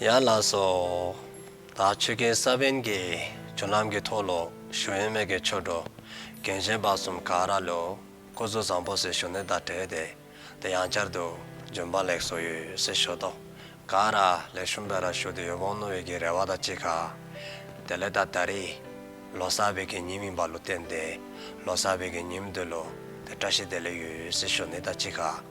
ཡང་ལགས་སོ། ད་ཆོས་རྒྱལ་ས་པཎ་གྱི་བྱུང་ལམ་གྱི་ཐོག་ལོ་ཞུགས་ཡོན་སྨད་ཀྱི་ཆོས་གྲོགས་རྒན་གཞན་དཔག་གསུམ་ག་ར་ལོའི་སྐུ་གཟུགས་བཟང་པོ་སྲི་ཞུ་ནི་ད་བྲེལ་ཏེ་དེ་ཡང་བསྐྱར་དུ་རྒྱུན་དཔང་ལེགས་སོ་ཡོད་སྲི་ཞུ་ཐོ་ག་ར་ལས་ཞུ་འབད་ར་ཞུ་དུ་ཡོད་བོང་ནོ་ཡོད་ཀྱི་རེ་བ་དང་གཅིག་ག་དེ་ལས་ད་ད་རི་ལོ་གསར་བའི་གི་ཉིན་ཡིན་པ་ལོ་བསྟན་ཏེ་ལོ་གསར་བའི་གི་ཉིན་མདོས་ལོ་དེ་བཀྲ་ཤིས་བདེ་ལེགས་ཡོད་སྲི་ཞུ་ནི་ད་གཅིག་ག།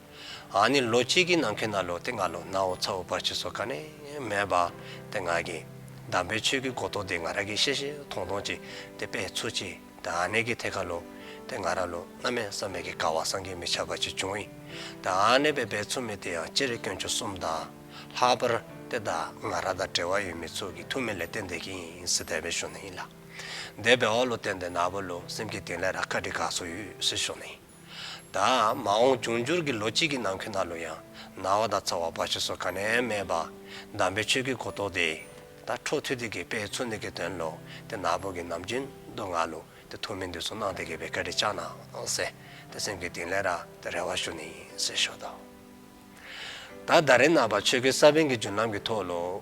ཨ་ནི་ལོ་གཅིག་གི་ནང་ཁེ་ན་ལོ་དེ་ང་ལོ་ནའོ་ཚ་བོ་བར་ཆུ་སོ་ཁ་ནས་མེད་པ་དེ་ང་གི་འདམ་པའི་ཆོས་ཀི་གོ་ཏོ་དེ་ང་ར་གི་ཤེ་ཤེ་ཐོང་ཐོང་ཅིག་དེ་དཔེ་ཚུ་ཅིག་དེ་ཨ་ནེ་གི་ཐེ་ཁ་ལོ་དེ་ང་ར་ལོ་ན་མེད་ས་མེད་གི་ཀ་བ་སང་གི་མི་ཆ་བ་ཅིག་བྱུང་ཨི་དེ་ཨ་ནེ་བའི་བེ་ཚུ་མི་དེ་ཡང་སྤྱི་རེ་སྐྱོན་ཆུ་གསུམ་ད་ལྷ་བར་དེ་ད་ང་ར་ད་བྲེ་བ་ཡོད་མི་ཚུ་གི་ཐུ་མི་ལེ་བསྟན་བསྡད་གི་ཡིན་སི་དེ་བེ་ཤོ་ནི་ཡིན་ལ་བསྡད་བེ་ཨོ་ལོ་བསྟན་བསྡད་ན་བོ་ལོ་སེམས་གི་དེང་ལེ་ར་ཁ་དྲི་ག་སོ་ཡོད་སི་ཤོ་ནི་ཡིན། ད་མ་འོངས་འབྱུང་འགྱུར་གྱི་ལོ་གཅིག་གི་ནང་ཁྱོད་ན་ལོ་ཡང་ན་བ་དང་ཚ་བ་བ་ཞེས་སོགས་ག་ནས་སྨྲས་པ། གདམས་པའི་ཆོས་ཀྱི་གོ་རྟོགས་ཏེ། ད་ཁྲོ་ཐུ་ཏི་གི་དཔེའི་ཚུལ་འདི་གའི་དོན་ལོ། དེ་ནག་པོ་གི་ནམ་རྒྱུན་སྡུག་བསྔལ་ལོ། དེ་ཐུགས་མི་འདོད་སུ་སྣང་དེ་གས་པའི་ཀ་རི་ལྕགས་ནག་བསྲེ། དེ་སེམས་ཀྱི་དིང་ལས་ར་དེ་རེ་བ་ཞུ་ནི་ཟེར་ཞོ་དང། ད་ད་རེ་ན་བ་ཆོས་ཀྱི་ས་བོན་གྱི་འཇུ་ལམ་གྱི་ཐོག་ལོ།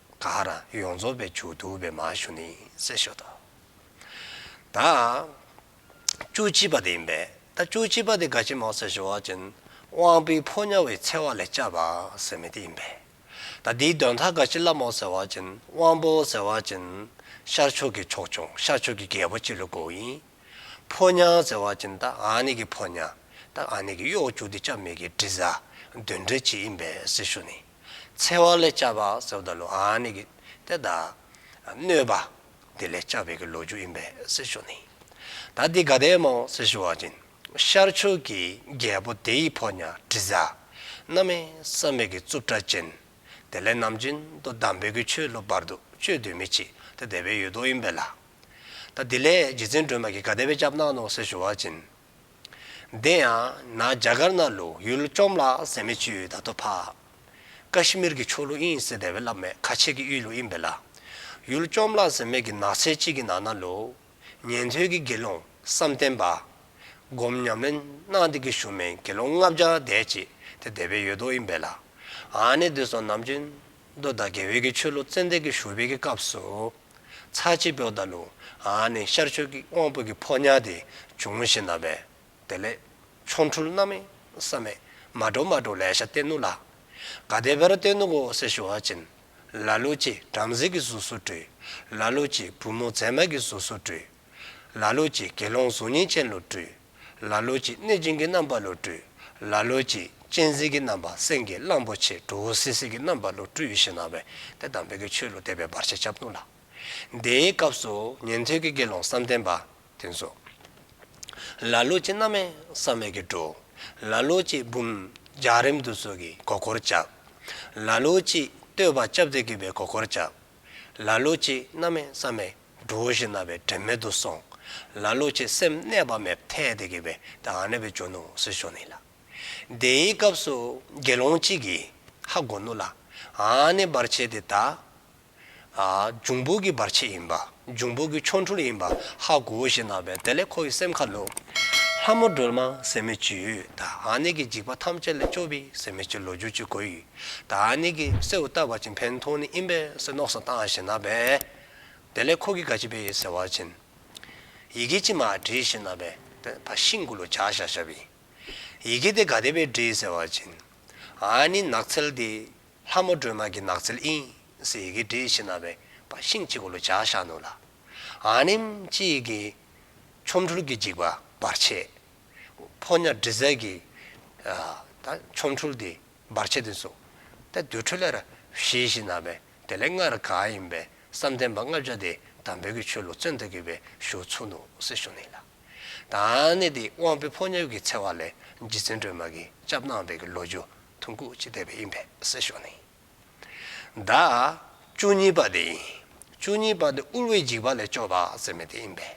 ཀ་ཧ་ར་ཡོངས་རྫོགས་པའི་མཇུག་བསྡུ་བའི་མ་ཞུ་ནི་གསལ་ཤོས་དང། ད་བཅུ་གཅིག་པ་དེ་ཡིན་པས་ད་བཅུ་གཅིག་པ་དེ་དགའ་ཆེན་མང་སེར་ཞོ་བ་ཅན་དབང་པོའི་ཕོ་ཉ་བའི་ཚེ་བ་ལས་བཅའ་བ་ཟེར་མི་དེ་ཡིན་པས་ད་འདིའི་འདོན་ཐ་དགའ་ཆེན་བླ་མོ་ཟེར་བ་ཅན་དབང་པོ་ཟེར་བ་ཅན་ཤར་ཕྱོགས་ཀྱི་ཕྱོགས་སྐྱོང་ཤར་ཕྱོགས་ཀྱི་རྒྱལ་པོ་སྤྱི་ལོ་གོ་ཡིན། ཕོ་ཉ་ཟེར་བ་ཅན་ད་ཨ་ནི་གི་ཕོ་ཉ་ད་ཨ་ནི་གི་གཡོག་བཅུ་དེ་བཅའ་མི་གི་དྲི་ཟ་འདོན་འདྲེ་གཅིག་ཡིན་པས་གསལ་ཤོས་ནི། འཚེ་བ་ལས་བཅབས་པ་སོགས་དང་ལོ་ཨ་ནི་གི་དེ་དག། གནོད་པ། དེ་ལས་བཅབས་པའི་གི་ལོ་རྒྱུ་ཡིན་པས་སྲི་ཞུ་ནི། ད་དེ་ག་དེའི་མོ་སྲི་ཞུ་བ་སྦྱིན། ཤར་ཕྱོགས་ཀྱི་རྒྱལ་པོ་དེ་ཡི་ཕོ་ཉ་དྲི་ཟ། སྣ་མའི་ས་མིག་གི་རྩུབ་ཁྲ་ཅན། དེ་ལས་ནམ་རྒྱུན་དུ་བསྡམས་པའི་གི་ཆོས་ལོ་བར་དུ་གཅོད་དུས་མི་བྱེད་དེ་དེ་བའི་ཡུལ་དུ་ཡིན་པས་ལ། ད་དེ་ལས་རྗེ་བཙུན་སྒྲོལ་མ་གི་ག་དེ་བས་བཅབས་ན་ནོ་སྲི་ཞུ་བ་སྦྱིན། འདི་ཡང་ན་རྒྱ་གར་ན་ལུགས་ཡུལ་བཅོམ་ལ་ཟད་མེད་ཅུའི་བརྡ་ཐོ་ཕག། ཀ་ཤི་མིར་གྱི་ཕྱོགས་ལུགས་དབྱིན་སི་དེ་བས་བསླབ་མེད་ཁ་ཆེ་གི་དབྱིན་ལུགས་དབྱིན་བེ་ལ། ཡུལ་བཅོམ་ལ་ཟད་མེད་ཀྱི་ནགས་ཚལ་གཅིག་གི་ནང་ན་ལུགས། ཉན་ཐོས་ཀྱི་དགེ་སློང་བསམ་གཏན་པ། སྒོམ་ཉམས་ལེན་གནང་སྟེ་ཀྱི་ཞུ་མེན་དགེ་སློང་ལྔ་བརྒྱ་དད་ཅིག་དེ་དེ་བས་ཡོད་དོ་དབྱིན་བེ་ལ། ཨ་ནེ་བདུད་སོགས་ནམ་རྒྱུན། མདོ་དང་དགེ་བས་ཀྱི་ཆོས་ལུགས་ཙན་དན་གྱི་ཞུ་བས་ཀྱི་སྐབས་སུ། ཚ་ཆེ་བོ་དང་ནུ་ཨ་ནི་ཤར་ཕྱོགས་ཀྱི་དབང་པོ་གི་ཕོ་ཉར་དེ་འབྱུང་བཞིན་ན་བས་དེ་ལས། ཆོ་འཕྲུལ་རྣམ་མེད་བསམ་མེད་མ་སྒྲོགས་མ་སྒྲོགས་ལས་ཤ་སྟེ་ནུ་ལགས། ག་དེ་བེར་སྟོད་ནུ་གོ་སེར་ཞུ་བ་ཅན། ལ་ལུག་ཅེས་བྲམ་ཟེ་གི་གཟུགས་སུ་སྤྲུལ། ལ་ལུག་ཅེས་བུ་མོ་མཛེས་མ་གི་གཟུགས་སུ་སྤྲུལ། ལ་ལོ་ཅིག་དགེ་སློང་གཟུགས་བརྙན་ཅན་ལོ་བཀྲུས། ལ་ལོ་ཅིག་གནོད་སྦྱིན་གྱི་རྣམ་པ་ལོ་བཀྲུས། ལ་ལོ་ཅིག་གཅན་གཟན་གྱི་རྣམ་པ་སེང་གེ་གླང་པོ་ཆེ་གྲུ་བོ་སིལ་སིལ་གྱི་རྣམ་པ་ལོ་བཀྲུས་ཞེས་སྣང་བས་དེ་དང་བད་ཀན་ཆོས་ལུགས་སྡེ་པའི་བར་ཆད་བྱབ་བཏུང་ལ། དེའི་སྐབས་སུ་ཉན་ཐོས་ཀྱི་དགེ་སློང་བསམ་གཏན་པ་དེ་ཚོ། ལ་ལོ་ཅིག་སྣ་མའི་བསམ་མེད་ཀྱིས་བཀྲུ། ལ་ལོ་ཅིག་བུམ་ལྗགས་རིམ་དུ་སོགས་ཀྱིས་མགོ་འཁོར་བཅབ། ལ་ལོ་ཅིག་བསྟོད་པ་བཅབ་སྟེ་གུས་པའི་མགོ་འཁོར་བཅབ། ལ་ལོ་ཅིག་སྣ་མའི་བསམ་མེད། འགྲོ་བ་བཞིན་རྣ་བའི་དྲན་མེད་དུ་སོང། ལ་ལོ་ཆེ་སེམས་གནས་པ་མེད་ཐལ་དེ་གི་བའི་ད་ཨ་ནེ་བའི་ཇོ་ནུ་སི་ཞོ་ནི་ལ། དེ་ཡི་སྐབས་སུ་དགེ་སློང་གཅིག་གིས་ཧ་གོ་ནུ་ལ་ཨ་ནེ་བར་ཆད་དེ་ད་ཨ་འབྱུང་པོ་གི་བར་ཆད་ཡིན་པ་འབྱུང་པོ་གི་ཆོ་འཕྲུལ་ཡིན་པ་ཧ་གོ་བཞིན་རྣ་བའི་དེ་ལས་ཁོ་ཡི་སེམས་ཁ་ལོ། ལྷ་མོ་སྒྲོལ་མ་ཟེར་མི་བཅུས་ད་ཨ་ནེ་གི་འཇིགས་པ་ཐམས་ཅད་ལས་སྐྱོབ་བི་ཟེར་མི་བཅུ་ལོ་རྒྱུས་ཅི་གོ་ཡི་ད་ཨ་ནེ་གི་སེའུ་ལྟ་བ་ཅིང་བན་ཐུང་ནི་ཨིན་པའི་སེ་ནོག་སོ་ཏང་ཞེ་ན་བའི། དེ་ལས་ཁོ་གི་ག་ཅི་བེ་ཡེ་ཟེར་བ་བྱིན། ཡི་གེ་ཅི་མ་བྲི་ཡི་ཤི་ན་བེ། བ་ཤིང་ཀུ་ལུ་བྱ་ཤ་ཤ་བི། ཡི་གེ་དེ་ག་དེ་བེ་བྲི་ཡི་ཟེར་བ་བྱིན། ཨ་ནི་ནགས་ཚལ་དེ། ལྷ་མོ་སྒྲོལ་མ་གི་ནགས་ཚལ་ཨིན། སི་ཡི་གེ་བྲི་ཡི་ཤི་ན་བེ། བ་ཤིང་ཅི་ཀུ་ལུ་བྱ་ཤ་ནུ་ལ། ཨ་ནི་མ་ཅི་ཡི་གེ། ཆོམ་འཕྲུལ་གི་འཇིགས་པ་བར་ཆད། བྷོ་ཉ་བྲི་ཟལ་གི། ཨ། ད་ཆོམ་འཕྲུལ་དེ། འབར་བྱེད་དུ་གསུངས། ཏེ་རྡུལ་འཕྲོས་ལས་ར་བཞི་བཞི་ན་བས་དེ་ལས་སྔར་གང་ཡིན་པའི་བསམ་གཏན་པ་ལྔ་བརྒྱ་དེ་དང་བོད་ཀྱི་ཆོས་ལུགས་བཙོན་དུ་གྱུར་པའི་གཞུག་ཚུལ་ནོ་སྲིད་གཞུང་ནི་ལ་དྭགས་ནས་དེ་དབང་པོའི་ཕོ་ཉོབ་ཀྱི་འཚེ་བ་ལས་རྗེ་བཙུན་སྒྲོལ་མ་གིས་སྐྱབས་གནང་བའི་ཀྱི་ལོ་རྒྱུ་ཐུང་ཁུག་ཅིག་བསྟན་པའི་ཡིན་པས་སྲིད་གཞུང་ནི་ཟླ་བཅུ་གཉིས་པ་དེ་ཡིན། བཅུ་གཉིས་པ་དེ་དབུལ་བའི་འཇིགས་པ་ལས་སྐྱོབ་པ་ཟེར་མེད་དེ་ཡིན་པས་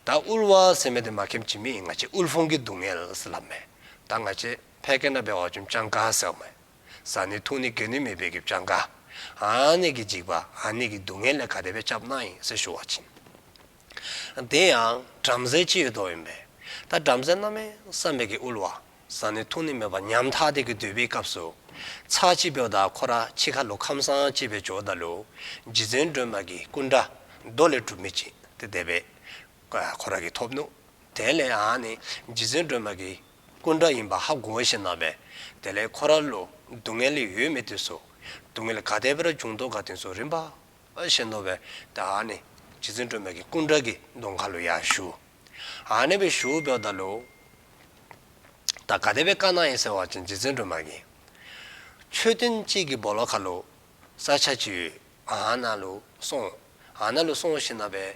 ད་དབུལ་བ་ཟེར་མེད་དེ་མ་ཁེམས་ཅི་མི་ཡིན་ང་ཅི་དབུལ་ཕོངས་ཀྱི་སྡུག་བསྔལ་ལབ་མེད་ད་ང་ཅི། ཕལ་སྐད་ན་བེ་བ་ཅུན་ཅང་ག་ཟེར་བ་མ་ཟ་ནི་ཐུག་ནི་གེ་ནི་མི་བེ་གེབ་ཅང་ག། ཨ་ནེ་གི་འཇིགས་པ་ཨ་ནེ་གི་སྡུག་བསྔལ་ལས་ག་དེ་བས་ཁྱབ་སྣང་ཡིན་ཟེར་ཞུ་བ་བྱིན། དེ་ཡང་བྲམ་ཟེ་ཅི་ཡོད་དོ་ཡིན་པས། ད་བྲམ་ཟེ་རྣམས་བསམ་བེ་གེ་དབུལ་བ་ཟ་ནི་ཐུག་ནི་མེད་པ་ཉམ་ཐག་དེ་གི་འདོད་པའི་སྐབས་སུ། ཚ་ཅི་བེའུ་དག་ཁོ་ར་ཅི་ཁ་ལུ་ཁམས་སངས་ཅི་བེ་ཇོ་ད་ལུ། རྗེ་བཙུན་སྒྲོལ་མ་གི་སྐུ་འདྲ་རྡོ་ལས་གྲུབ་མི་བྱིན་ཏེ་དེ་བས། ཁོ་ར་གི་ཐོབ་ནུ། དེ་ལས་ཨ་ནེ་རྗེ་བཙུན་སྒྲོལ་མ་གི་སྐུ་འདྲ་ཡིན་པ་ཧ་གོ་བ་ཞིག་སྣང་བས། དེ་ལས་ཁོ་རང་ལུགས་སྡུག་བསྔལ་ཡོད་མེད་དུས་སུ། སྡུག་བསྔལ་ག་དེ་བེར་ཅུང་དོག་ག་དེ་ཚོ་རིམ་པ་བཞིན་ནོར་བས་ད་ཨ་ནི་རྗེ་བཙུན་སྒྲོལ་མ་གི་སྐུ་འདྲ་གི་མདོ་མཁའ་ལོ་ཡར་བཞུགས། ཨ་ནི་བའི་བཞུགས་ཕྱོགས་ད་ལོ། ད་ག་དེ་བའི་བཀའ་གནང་ཡིན་ཟེར་བ་བཞིན་རྗེ་བཙུན་སྒྲོལ་མ་གི། མཆོད་རྟེན་གཅིག་གི་སྦོ་ལོ་མཁའ་ལོ། ས་ཆ་ཅི་ཡོད་ཨ་ན་ལོ་སོང། ཨ་ན་ལོ་སོང་ཞིག་སྣང་བས།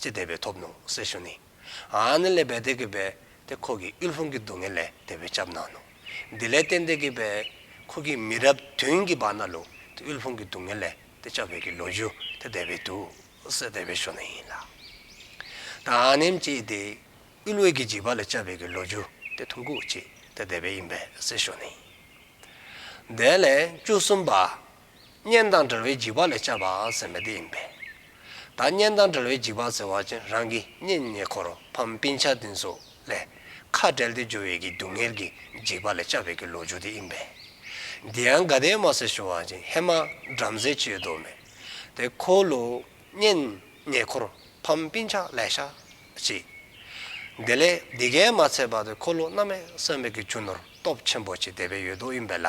ཅེས་བཟླས་པས་ཐོབ་ནོ་སེ་ཞོ་ནི། ཨཱ་ནི་ལས་བད་དེ་གི་བད་དེ་ཁོ་གི་གཡུལ་ལྷུང་གི་སྡུག་བསྔལ་ལས་དེ་བས་སྐྱབས་གནང་ནོ། འདི་ལས་བརྟེན་དེ་གི་བད་ཁོ་གི་མི་རབས་བདུན་གི་བར་ན་ལུ་དེ་གཡུལ་ལྷུང་གི་སྡུག་བསྔལ་ལས་དེ་སྐྱབས་བད་ཀྱི་ལོ་རྒྱུ་དེ་བཟླས་པས་དུ་སེ་བཟླས་པའི་ཞོ་ནི་ཡིན་ལ། དང་ཨཱ་ནིམ་ཅེས་དེ་གཡུལ་བད་ཀྱི་འཇིགས་པ་ལས་སྐྱབས་བད་ཀྱི་ལོ་རྒྱུ་དེ་ཐུམ་ཁུག་ཅེས་དེ་བཟླས་པས་ཡིན་པས་སེ་ཞོ་ནི་ཡིན། བཟླས་ལན་བཅུ་གསུམ་པ། གཉེན་དང་འབྲེལ་བའི་འཇིགས་པ་ལས་བཅབས་པ་ཟེར་མི་དེ་ཡིན་པས། ད་གཉེན་དང་འབྲེལ་བའི་འཇིགས་པ་ཟེར་བ་ཅན་རང་གི་གཉེན་ཉེ་འཁོར་ཕམ་པིན་ཆ་འདི་ཚོ་ལས་ཁ་བྲལ་ཏེ་འབྱོར་བའི་གི་སྡུག་བསྔལ་གྱི་འཇིགས་པ་ལས་བཅབས་པའི་གི་ལོ་རྒྱུ་དེ་ཡིན་པས། འདི་ཡང་དགའ་ལྡན་མ་སེར་ཞུ་བ་ཅན་ཧེ་མ་བྲམ་ཟེ་བཅོས་དོགས་མེད་དེ་ཁོ་ལོ་གཉེན་ཉེ་འཁོར་ཕམ་པིན་ཆ་ལས་ཤ་ཅི། འདི་ལས་འདི་གའི་མ་ཚད་པ་དེ་ཁོ་ལོ་རྣམས་མས་བསམ་པའི་གི་ཆུ་ནོར་སྟོབས་ཆེན་པོ་ཅིག་དེ་བས་ཡོད་དོ་ཡིན་པས་ལ།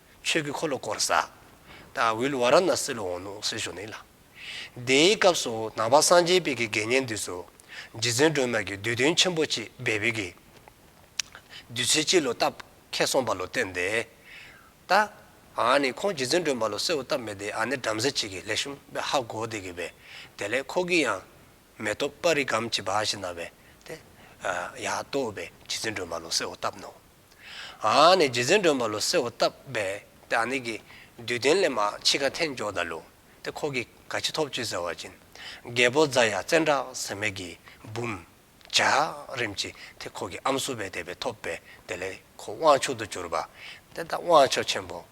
ཆོས་ཀྱི་འཁོར་ལོ་བསྐོར། ས་དང་བྷིལ་བ་ར་ནཱ་སི་ལུ་འོང་ནུ་སི་ཞོ་ནི་ལ། དེའི་སྐབས་སུ་ནང་པ་སངས་རྒྱས་དཔལ་གྱི་དགེ་བསྙེན་འདུས་སོ། རྗེ་བཙུན་སྒྲོལ་མ་གྱིས་བསྡུས་དོན་ཆེན་པོ་གཅིག་སྦས་པའི་གི། བསྡུས་ཚུལ་གཅིག་ལོ་སྟབས་ཁས་གསུངས་པ་ལོ་བསྟན་ཏེ། ད་ཨ་ནི་ཁོང་རྗེ་བཙུན་སྒྲོལ་མ་ལོ་སེ་བོ་སྟབས་མེད་དེ་ཨ་ནི་བྲམ་ཟེ་གཅིག་གིས་ལེགས་བཤུམ་པས་ཧ་གོ་བདེ་གི་བས་དེ་ལས་ཁོ་གི་ཡང། མེ་ཏོག་དཔའ་རིས་སྒམ་གྱི་བ་ཞིག་ན་བས་དེ། ཡ་ཏོ་བས་རྗེ་བཙུན་སྒྲོལ་མ་ལོ་སེ་བོ་སྟབས་ནོ། ཨ་ནི་རྗེ་བཙུན་སྒྲོན་མ་ལོ་སེའུ་བཏབ་པས་ཏེ་ཨ་ནི་གིས་བདུད་བསྟན་ལས་མ་འཆི་ཁ་འཐེན་འཇོག་ད་ལུ་ཏེ་ཁོ་གིས་ག་ཅི་ཐོབ་ཅི་ཟེར་བ་བྱིན་རྒྱལ་པོ་རྫ་ཡ་བཙན་བྲག་ཟེར་མེད་ཀྱིས་འབུམ། བྱ། རིམ་གྱིས་ཏེ་ཁོ་གིས་ཨམ་སུ་བས་དད་པས་ཐོབ་པས་དེ་ལས་ཁོ་དབང་ཕྱུག་ཏུ་གྱུར་པ་ཏེ་དབང་མཆོག་ཆེན་པོ།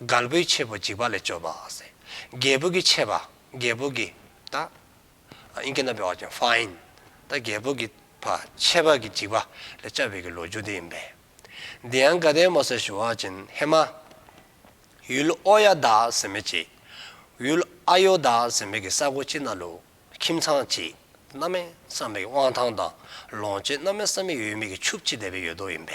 རྒལ་པོའི་ཆེད་པོ་འཇིགས་པ་ལས་སྐྱོབ་པ། རྒྱལ་པོ་གི་ཆེད་པ། རྒྱལ་པོ་གི། རྒྱལ་པོ་གི། ཆེད་པ་གི་འཇིགས་པ། ལས་སྐྱབས་བས་ཀྱི་ལོ་རྒྱུས་འདི་ཡིན་པས། འདི་ཡང་དགའ་ལྡན་མོ་སེར་ཞུ་བ་ཅན་ཧེ་མ། ཡུལ་ཨོ་ཡ་དག་ཟིན་མེད་ཅིག། ཡུལ་ཨ་ཡོ་དག་ཟིན་མེད་ཀྱི་ས་གོ་ཅི་ན་ལུག། ཁྱིམ་ཚང་ཅིག། གནའ་མི་བསམ་མེད་ཀྱི་དབང་ཐང་དང། ལོངས་སྤྱོད་གནའ་མི་བསམ་མེད་ཡོད་མེད་ཀྱི་ཆུབ་ཅི་བདེ་བའི་ཡོད་དོ་ཡིན་པས།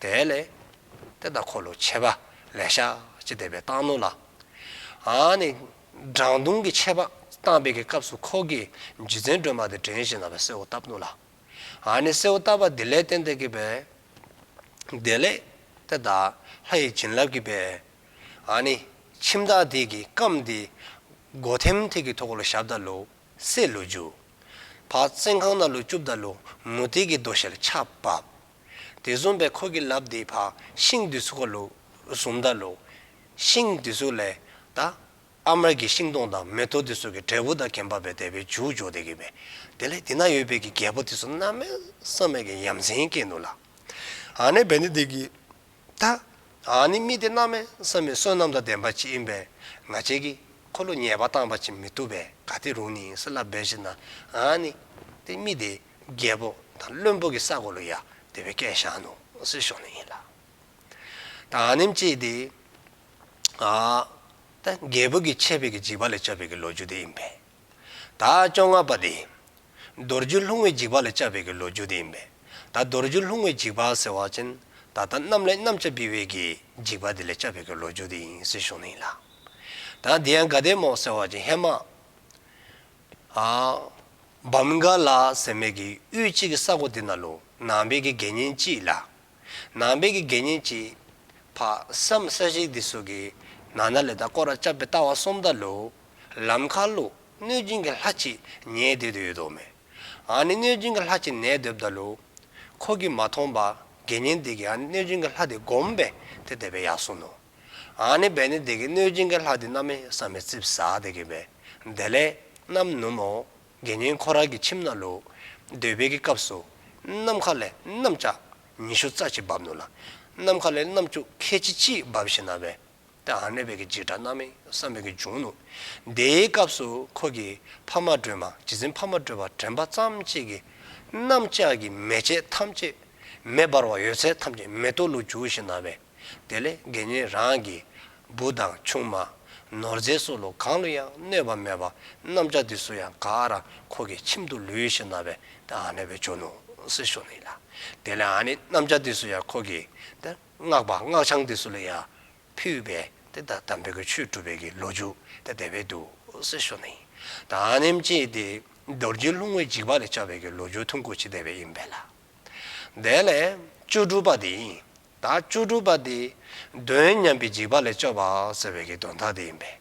དེའི་ལས། དེ་དང་འཁོར་ལོ་ཕྱེད་པ་ལས་ཤཱཀྱ་བདེ་བའི་སྟག་མོ་ལ། ཨཱ་ནི། བྲང་བརྡུང་གི་ཆད་པ་བཏང་བའི་གི་སྐབས་སུ་ཁོག་གི་རྒྱུ་མཚན་སྒྲོལ་མ་དེ་བྲན་བཞིན་ན་བའི་སྲས་བོ་རྟ་བརྡུང་ལ། ཨཱ་ནི་སྲས་བོ་རྟ་བ་དེ་ལས་བསྟན་དེ་གི་བས། དེ་ལས། དེ་དག་ལྷ་ཡི་བྱིན་རླབས་ཀྱི་བས། ཨཱ་ནི། ཁྱིམ་བདག་དེ་གི་སྐམས་དེ། སྒོ་ཐེམ་ཐིག་གི་ཐོག་ལ་ཞབས་བདག་ལུ། སྲས་ལུ་རྒྱུ། བག་བཙན་ཁང་ན་ལུ་བཅུ་བདག་ལུ་མུ་ཏིག་གི་རྡོ་ཞལ་ཕྱག་བབས། དེ་བཟུང་བས་འཁོར་གྱི་རླབས་འདིའི་བར་ཤིང་དུས་ཚོད་ཀ་ལུགས་གསུམ་ཟླ་ལུགས། ཤིང་དུས་ཚོད་ལས། ད། ཨ་མར་གྱི་ཤིང་སྟོང་དང་མེ་ཏོག་དུས་ཚོད་ཀྱི་འབྲས་བུ་དང་གན་པ་བས་དད་པའི་འཇུག་འཇོག་བདེ་གི་བས། དེ་ལས་དེ་ན་ཡོད་བས་ཀྱི་རྒྱལ་པོ་དུས་ཚོད་རྣམ་སྨིན་བསམ་མེད་ཀྱི་ཡམ་ཟན་སྐྱེས་འདུག་ལ། ཨ་ནི་བས་ནི་བདེ་གི། ད། ཨ་ནི་སྨིན་ཏེ་རྣམ་སྨིན་བསམ་མེད་བསོད་ནམས་དང་ལྡན་པ་ཅིག་ཡིན་པས་ང་བྱས་ཀྱི། འཁོར་ལོ་ཉེས་པ་བཏང་བ་བྱེད་མི་ཐུབ་པས་ག་དེ་རུང་ནི་སྲིད་ལ་འབད་བྱེད་ན། ཨ་ནི། དེ་སྨིན་ཏེ། རྒྱལ་པོ་དང་བློན་པོ་གི་ས་གོ་ལོ་ཡག་དེ་བའི་སྐད་ཞང་ནུ་སི་ཤོག་ནས་ཡིན་ལ། ད་ཨ་ནིམ་ཅེས་དེ། ཨ། ད་རྒྱལ་པོ་གི་ཆད་པའི་གི་འཇིགས་པ་ལས་བཅབས་པའི་གི་ལོ་རྒྱུ་དེ་ཡིན་པས། ད་ཨ་བཅོ་ལྔ་པ་དེ། མདོ་རྒྱུད་ལྷུང་བའི་འཇིགས་པ་ལས་བཅབས་པའི་གི་ལོ་རྒྱུ་དེ་ཡིན་པས། ད་མདོ་རྒྱུད་ལྷུང་བའི་འཇིགས་པ་ཟེར་བ་ཅན་ད་ལྟ་གནམ་ལས་གནམ་ལྕགས་འབི་བའི་གི་འཇིགས་པ་དེ་ལས་བཅབས་པའི་གི་ལོ་རྒྱུ་དེ་ཡིན་སི་ཤོག་ནས་ཡིན་ལ། ད་དེ་ཡང་དགའ་ལྡན་མོག་ཟེར་བ་ཅན་ཧེ་མ། བམ་ག་ལ་ཟེར་མེད་ཀྱི་དབུས་གཅིག་གི་ས་གོ་དེ་ན་ལོ་ནང་བལ་གི་དགེ་བསྙེན་གཅིག་ལ། ནང་བལ་གི་དགེ་བསྙེན་གཅིག། ཕ་བསམ་ས་ཤིག་དེ་སོ་གི་ནང་ན་ལེ་དང་ཀོ་ར་ལྕགས་པའི་རྟ་བ་གསུམ་དང་ལུ། ལམ་ཁ་ལུ། གནོད་སྦྱིན་གྱི་ལྷ་གཅིག་ཉལ་སྡོད་དུ་ཡོད་དོ་མེ། ཨ་ནི་གནོད་སྦྱིན་གྱི་ལྷ་གཅིག་ནལ་སྡོད་དང་ལུ། ཁོ་གིས་མ་མཐོང་པ་དགེ་བསྙེན་དེ་གིས་ཨ་ནི་གནོད་སྦྱིན་གྱི་ལྷ་དེ་བསྒོམས་པས་དེ་དེ་བས་ཡག་གསུངས་ནོ། ཨཱ་ནི་བས་ནི་བདེ་གི་སྣོད་སྦྱིན་གྱི་ལྷ་དེ་རྣམ་མི་བསམ་མི་རྩིབས་ཟ་བདེ་གི་བས་བདེ་ལས། རྣམ་སྣུམ་མོ། དགེ་བསྙེན་འཁོར་རལ་གྱི་ཁྱིམ་ན་ལུ། འདོད་པའི་གི་སྐབས་སུ། ནམ་མཁའ་ལས་གནམ་ལྕགས། ཉི་ཤུ་རྩ་གཅིག་འབབ་ནུ་ལ། ནམ་མཁའ་ལས་གནམ་ལྕུག་ཁལ་ཆིག་གཅིག་འབབ་ཞེ་ན་བས། ཏེ་ཨཱ་ནི་བས་གི་འཇིགས་སྐྲག་རྣམ་མི་བསམ་བས་གི་འབྱུང་ནུ། དེའི་སྐབས་སུ་ཁོ་གི། ཕ་མ་སྒྲོལ་མ་རྗེ་བཙུན་ཕ་མ་སྒྲོལ་བ་དྲན་པ་ཙམ་གཅིག་གི། གནམ་ལྕགས་ཀྱི་མེ་ལྕེ་ཐམས་ཅད། མེ་འབར་བ་ཡོད་ཚད་ཐམས་ཅད་མེ་ཏོག་ལུ་བྱུགས་ཞེ་ན་བས། དེ་ལས་དགེ་བསྙེན་རང་གི། བུ་དང་ཆུང་མ། ནོར་རྫས་སོགས་ལུགས་གང་ལ་ཡང་གནོད་པ་མེད་པ། གནམ་ལྕགས་འདི་སུ་ཡང་ག་ར་ཁོ་གི་ཁྱིམ་དུ་ལུས་ཤིག་ན་བས་ཏེ་ཨ་ནེ་བའི་ཇོ་ནུ། སི་ཤོ་ནི་ལ། དེ་ལས་ཨ་ནེ་གནམ་ལྕགས་འདི་སུ་ཡང་ཁོ་གི། ཏེ། སྔགས་པ་སྔགས་འཆང་འདི་སུ་ལ་ཡང། ཕུལ་བས་ཏེ་ད་དམ་པའི་གི་ཆོས་གྲུབ་པའི་གི་ལོ་རྒྱུ། ཏེ་དེ་བས་ཏུ། སི་ཤོ་ནི། ད་ཨ་ནེ་མཆི་ཡི་ཏེ། རྡོ་རྗེའི་ལྷུང་བས་འཇིགས་པ་ལས་བཅའ་བའི་གི་ལོ་རྒྱུ་ཐུན་དགུ་ཕྱི་དེ་བས་ཡིན་པས་ལ། དེ་ལས། བཅུ་དྲུག་པ་དེ་ཡིན། བདག་བཅུ་དྲུག་པ་དེ། གདོན་མཉམ་པའི་འཇིགས་པ་ལས་སྐྱོབ་པའོ་ཟེར་བའི་གདོན་མཐའ་དེ་ཡིན་པས།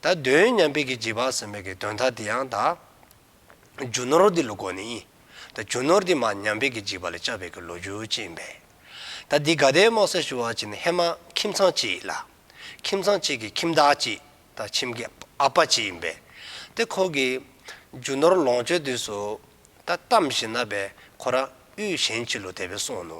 ད་གདོན་མཉམ་པའི་གྱི་འཇིགས་པ་ཟེར་མོད་ཀྱི་གདོན་མཐའ་དེ་ཡང་དག། རྒྱུ་ནོར་འདི་ལུ་གོ་ནི་ཡིན། ད་རྒྱུ་ནོར་འདི་མ་ཉམས་པའི་གྱི་འཇིགས་པ་ལས་སྐྱབ་པའི་གྱི་ལོ་རྒྱུ་བཅས་ཡིན་པས། ད་འདི་ག་དའི་མོ་སེར་ཞུ་བ་བྱས་ནས་ཧེ་མ་ཁྱིམ་ཚང་གཅིག་ཡིན་ལ། ཁྱིམ་ཚང་གཅིག་གི་ཁྱིམ་བདག་གཅིག་ད་ཁྱིམ་གྱི་ཨ་ཕ་གཅིག་ཡིན་པས། དེ་ཁོ་གྱི། རྒྱུ་ནོར་ལོངས་སྤྱོད་དུས་སུ། ད་གཏམ་བཞིན་ན་བས་ཁོ་རང་དབུས་གཞན་གྱི་ལུ་དེ་བས་སོང་ནུ།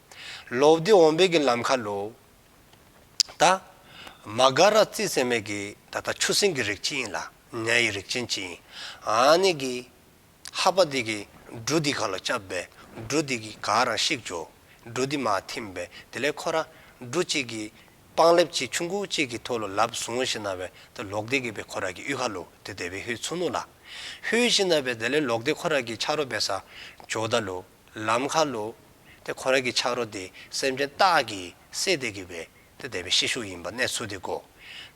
ལོ་བདེ་འོང་བས་ཀྱི་ལམ་ཁ་ལོ། ད། མ་ག་ར་རྩིས་ཚེ་མེད་ཀྱི་ད་ལྟ་ཆུ་སྲིན་གྱི་རིགས་ཅི་ཡིན་ལ་ནྱ་ཡི་རིགས་ཅན་ཅི་ཡིན་ཨ་ནི་གི། ཧ་པ་དེ་གི་འབྲུ་དེ་ག་ལ་བཅབས་པས་འབྲུ་དེ་གི་ག་རང་ཤིག་འཇོ། འབྲུ་དེ་མ་ཐིམ་པས་དེ་ལས་ཁོ་ར་འབྲུ་གཅིག་གི་པང་ལེབ་གཅིག་ཆུ་འགུག་གཅིག་གི་ཐོ་ལོ་ལབ་བཟུང་ཤི་ན་བས་ད་ལོག་བདེ་གི་བས་ཁོ་ར་གི་དབུས་ཁ་ལོ་དེ་དེ་བས་ཧུའི་ཚུ་ནུ་ལ། ཧུའི་ཤི་ན་བས་དེ་ལས་ལོག་བདེ་ཁོ་ར་གི་ཆ་རོ་བས་ས་འཇོ་ད་ལོ། ལམ་ཁ་ལོ། དེ་ཁོ་རང་གི་ཆག་རོ་དེ་སེམས་ཅན་རྟགས་ཀྱིས་བསྲེས་ཏེ་གུས་པས་དེ་དད་པའི་ཤེད་ཤུགས་ཡིན་པ་གནས་ཚུལ་དེ་གོ།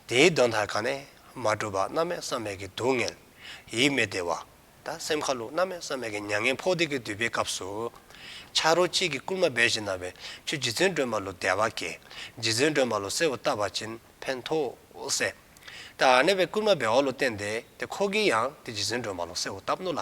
དེའི་གདོན་མཐར་གང་ནས་མ་གྲུབ་པ་རྣམ་མེད་བསམ་མེད་ཀྱི་སྡུག་བསྔལ། ཡིད་མི་བདེ་བ། དང་སེམས་ཁ་ལོ་རྣམ་མེད་བསམ་མེད་ཀྱི་མྱ་ངན་འཕོག་བདེ་ཀྱི་དུས་པའི་སྐབས་སུ། ཆག་རོ་གཅིག་གིས་བསྐུལ་མ་རྦད་བཞིན་ན་བའི་ཆུ་རྗེ་བཙུན་སྒྲོལ་མ་ལོ་བདེ་བ་དགེ། རྗེ་བཙུན་སྒྲོལ་མ་ལོ་གསལ་བུ་བཏབ་པ་བྱིན་ཕན་ཐོགས་སེ། ད་ཨ་ནེ་བའི་བསྐུལ་མ་རྦད་བ་ལོ་བསྟན་ཏེ་དེ་ཁོ་གིས་ཡང་དེ་རྗེ་བཙུན་སྒྲོལ་མ་ལོ་གསལ་བུ་བཏབ་ནོ་ལ།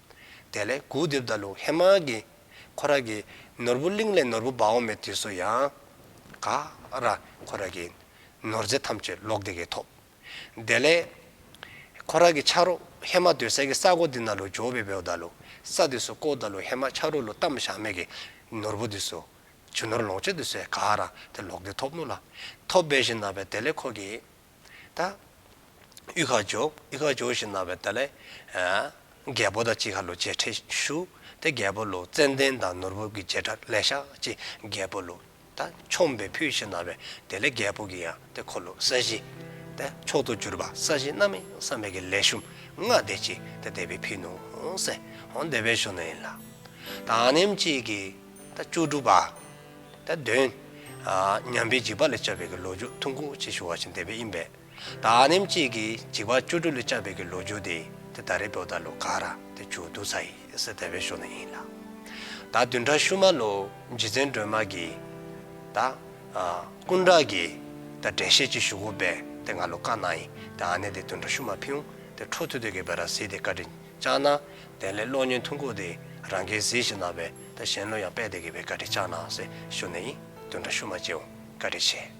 དེ་ལས་གུའུ་དེབ་དང་ལུགས་ཧེ་མཱ་གི། ཁོ་ར་གི། ནོར་བུ་གླིང་ལས་ནོར་བུ་འབའ་འོ་མའི་དུས་སུ་ཡང། ག། ར། ཁོ་ར་གི། ནོར་རྫས་ཐམས་ཅད་ལོག་དེ་གས་ཐོབ། དེ་ལས། ཁོ་ར་གི་ཕྱག་རོ་ཧེ་མཱ་དུས་ས་གི་ས་གོ་དི་ན་ལུ་ཇོ་བི་བེའུ་དང་ལུ། ས་དུས་སུ་ཀོའུ་དང་ལུ་ཧེ་མཱ་ཕྱག་རོ་ལུ་ཏམ་ཞང་མེ་གི། ནོར་བུ་དུས་སུ། ཇུ་ནོར་ལོངས་སྤྱོད་དུས་སུ་ཡ། ག། ར། དེ་ལོག་དེ་ཐོབ་ནུ་ལ། ཐོབ་བེ་ཞིང་ན་བེ་དེ་ལས་ཁོ་གི། ད། དབུས་ཁ་འཇོག་དབུས་ཁ་འཇོག་ཞེས་གནང་བའི་ད་ལས། རྒྱལ་པོ་དང་གཅིག་ཧ་ལོ་མཇལ་འཕྲད་ཞུ། དེ་རྒྱལ་པོ་ལོ་ཙན་དན་དང་ནོར་བུ་གྱི་བྱེ་བྲག་ལས་ཤག་ཅེས་རྒྱལ་པོ་ལོ། ད། ཆོམ་པའི་ཕུད་ཞེས་གནང་བའི་དེ་ལས་རྒྱལ་པོ་གྱི་ཡང་དེ་འཁོར་ལོ་ས་གཞི། ད། མཆོག་ཏུ་གྱུར་པ་ས་གཞི་རྣམ་གཡེང་བསམ་མེད་ཀྱི་ལས་ཞུམ་ལྔ་བཟླས་ཀྱིས་ད་བདེ་བའི་ཕུད་ནོ། སེ། འོང་བདེ་བའི་ཞོ་ནི་ལ། ད། ཨ་ནེམ་གཅིག་གིས་ད་བཅུ་དྲུག་པ། ད་དོན། ཉམས་པའི་འཇིགས་པ་ལས་བཅའ་བའི་ཀྱི་ལོ་རྒྱུས་ཐུང་ཁུང་ཅིག་ཞུ་བ་ཞིག་འདི་པས་ཡིན་པས། ད་ཨ་ནེམ་ཅིག་གིས་འཇིགས་པ་བཅུ་དྲུག་ལས་བཅའ་བའི་ཀྱི་ལོ་རྒྱུས་འདི་དེ་ད་རེ་བོད་ད་ལོ་ག་ར་དེ་བཅུ་བདུན་ཚ་ཡི་སི་དེ་བའི་ཤོག་ནས་ཡིན་ལ། ད་བདུན་ཕྲག་ཤུ་མ་ལོ་རྗེ་བཙན་སྒྲོལ་མ་གིས། ད་ཀུན་བྲག་གིས་ད་འགྲེལ་བཤད་ཅིག་ཞུ་དགོས་པས་དེ་ང་ལོ་ཀ་ན་ཡིན་དེ་ཨ་ནེ་དེ་བདུན་ཕྲག་ཤུ་མ་ཕིའུ་དེ་ཁྲོ་ཐུ་དོད་ཀྱི་བེ་ར་སི་དེ་བཀའ་དྲིན་བཅག་ན། དེ་ལས་གློག་བརྙན་ཐུང་ཁུག་དེ་རང་གིས་གཟིགས་ཤིག་གནང་བས་ད་གཞན་བློ་ཡང་དཔལ་དེ་གི་བའི་བཀའ་དྲིན་བཅག་གནང་ཟེར་ཞུ་ནས་ཡིན་དུས་འདྲ་ཞུ་མ་བགྱིའོ་བཀའ་དྲིན་ཆེ།